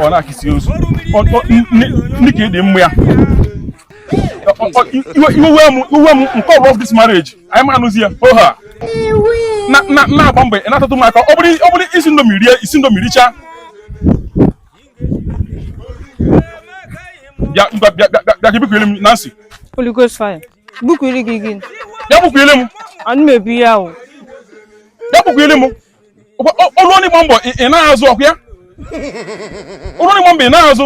ọ na-akịsị ozu dịka ịdị mma ya iwe m nke ọbụla of this marriage anyị ma anụzi ya oha na-agba mgbe na-atatụ m aka ọ bụrụ isi ndomi rie isi ndomi richaa bịa bịa bịa bịa bịa gị bukwere m Nancy Holy Ghost fire bukwere gị gị bịa bukwere m anụ m ebu ya o bịa bukwere m ọrụ onye gba mbọ ị na-azụ ọkụ ya ọrụ onye gba mbọ ị na-azụ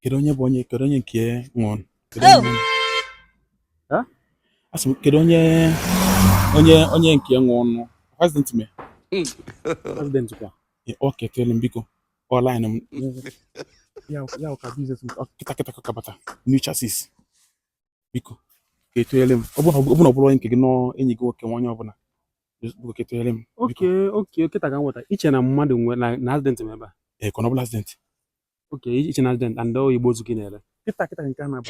kedu onye bụ onye kedu onye nke nwụrụ asị m kedu onye onye onye nke nwụrụ president me president kwa ọ ketele m biko ọ line m ya ya ka business m kịta kịta ka bata new chassis biko ka etunyere m ọ bụrụ ọ bụrụ onye nke gị nọ enyi gị nwoke nwa onye ọbụla goketụnyere m okay okay kịta ka m ghọta iche na mmadụ nwe na na accident m ebe a ee corner ọbụla accident okay iche na accident and ọ igbe ozu ka ị na-ere kịta kịta nke a na-abụ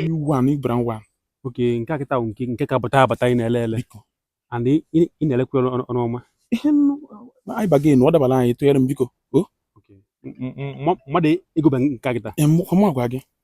new one new brand one okay nke a kịta bụ nke nke ka bata abata ị na-ele ele biko and ị ị- ị na-elekwa ọnụ ọnụ ọma ihe nnu anyị baga enu ọ dabara anyị tụnyere m biko o Okay. M- m- m- mmadụ egobe nke a kịta Ee, m- m agwa gị